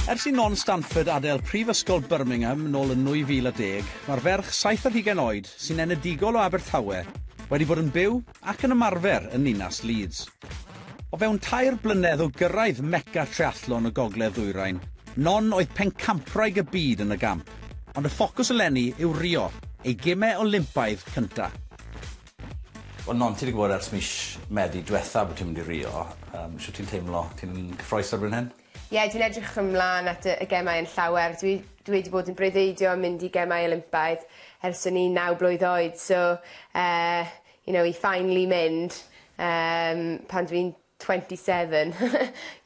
Ers i Non Stanford adael Prifysgol Birmingham nôl yn 2010, mae'r ferch saith ar hugain oed, sy'n enedigol o Abertawe, wedi bod yn byw ac yn ymarfer yn ninas Leeds. O fewn tair blynedd o gyrraedd mega triathlon y gogledd ddwyrain, Non oedd pencampwraig y byd yn y gamp, ond y ffocws eleni yw Rio, ei gimau Olympaidd cynta'. Wel non ti 'di gwbod ers mis Medi dwetha bo' ti'n mynd i Rio yym shwt ti'n teimlo? Ti'n cyffrous erbyn hyn? Ie dwi'n edrych ymlan at y y gemau yn llawer dwi dwi wedi bod yn breuddwydio am mynd i gemau Olympaidd ers o'n i'n naw blwydd oed so yy you know i finally mynd yym pan dwi'n twenty seven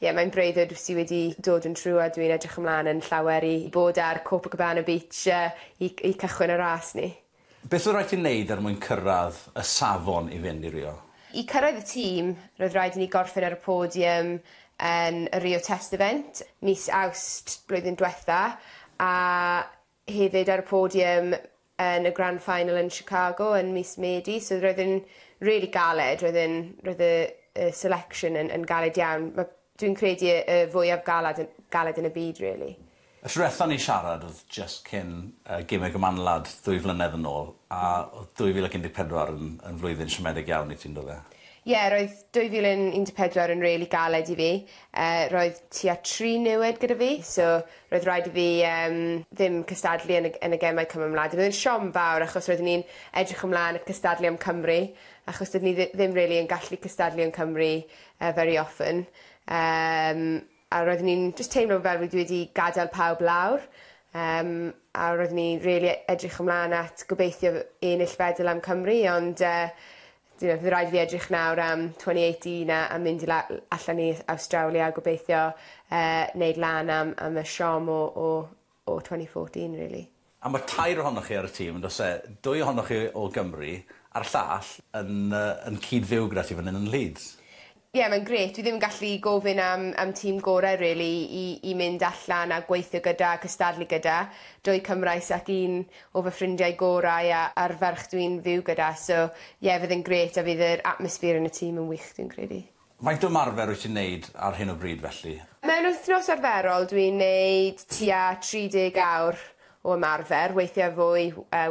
ie mae'n breuddwyd sy wedi dod yn true a dwi'n edrych ymlan yn llawer i bod ar Copacabana beach yy i c- i cychwyn y ras 'ny. Beth oedd rhaid ti wneud er mwyn cyrraedd y safon i fynd i Rio? I cyrraedd y tîm, roedd rhaid i ni gorffen ar y podium yn y Rio Test Event mis Awst blwyddyn diwetha', a hefyd ar y podium yn y Grand Final yn Chicago yn mis Medi, so roedd e'n rili galed, roedd e'n roedd y y selection yn yn galed iawn. Ma' Dwi'n credu y y fwyaf galed yn galed yn y byd really. Y tro diwetha ni'n siarad oedd jyst cyn yy gêm y Gymanwlad ddwy flynedd yn ôl a oedd 2014 yn yn flwyddyn siomedig iawn i ti yndo fe? Ie roedd 2014 yn rili galed i fi yy roedd tua tri niwed gyda fi so roedd raid i fi yym ddim cystadlu yn y yn y gemau Cymymlad roedd e'n siom fawr achos roeddwn i'n edrych ymlan at cystadlu am Cymru achos doeddwn i ddi- ddim rili yn gallu cystadlu yn Cymru yy very often yym a roeddwn i'n jyst teimlo fel fi wedi gadel pawb lawr yym a roeddwn i rili e- edrych ymlan at gobeithio fy- ennill fedal am Cymru ond yy you know by' raid i fi edrych nawr am twen'y eight un a a mynd i la- l- allan i Awstralia a gobeithio yy neud lan am am y siom o o o 2014 really. A ma tair ohonoch chi ar y tîm yndos e? Dwy ohonoch chi o Gymru a'r llall yn yy yn cyd fyw gyda ti fan 'yn yn Leeds? Ie mae'n grêt fi ddim yn gallu gofyn am am tîm gore rili i i mynd allan a gweithio gyda a cystadlu gyda. Dwy Cymraes ac un o fy ffrindiau gorau a a'r ferch dwi'n fyw gyda so ie fydd e'n grêt a fydd yr atmosphere yn y tîm yn wych dwi'n credu. Faint o ymarfer wyt ti'n neud ar hyn o bryd felly? Mewn wythnos arferol dwi'n neud tua 30 awr o ymarfer, weithiau fwy,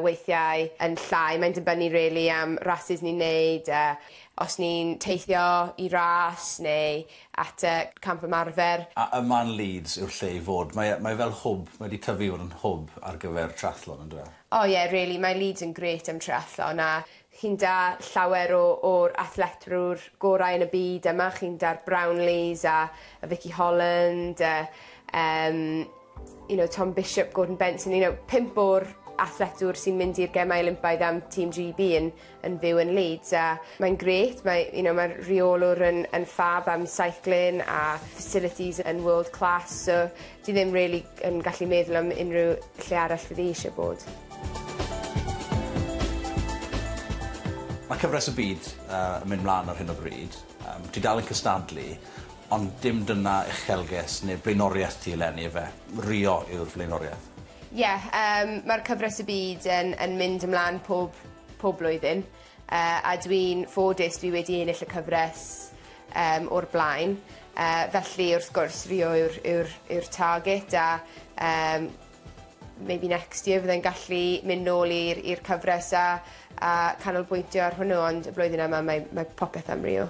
weithiau yn llai, mae'n dibynnu rili am rasys ni'n neud, os ni'n teithio i ras neu at y camp ymarfer. A yma yn Leeds yw'r lle i fod? Mae mae fel hwb, mae 'di tyfu i fod yn hwb ar gyfer triathlon on'd yw e? O ie rili, mae Leeds yn grêt am triathlon a Chi'n da, llawer o o'r athletwr gorau yn y byd yma, chi'n da'r Brownlees a a Vikki Holland a yym you know Tom Bishop, Gordon Benson you know pump o'r athletwr sy'n mynd i'r Gemau Olympaidd am Team Gee Bee yn yn fyw yn Leeds a mae'n grêt mae you know ma'r rheolwr yn yn ffab am seiclin a facilities yn world class so Dwi ddim rili yn gallu meddwl am unrhyw lle arall fyddi eisiau bod. Mae cyfres y byd yn mynd mlaen ar hyn o bryd. Ti dal yn cystadlu ond dim dyna uchelgais neu blaenoriaeth ti eleni ife? Rio yw'r flaenoriaeth? Ie, mae'r cyfres y byd yn mynd ymlaen pob blwyddyn. Yy a dw i'n ffodus dw i wedi ennill y cyfres yym o'r blaen yy felly wrth gwrs Rio yw'r yw'r yw'r target a yym maybe next year fyddai'n gallu mynd nôl i'r i'r cyfres a a canolbwyntio ar hwnnw ond y flwyddyn yma mae mae popeth am Rio.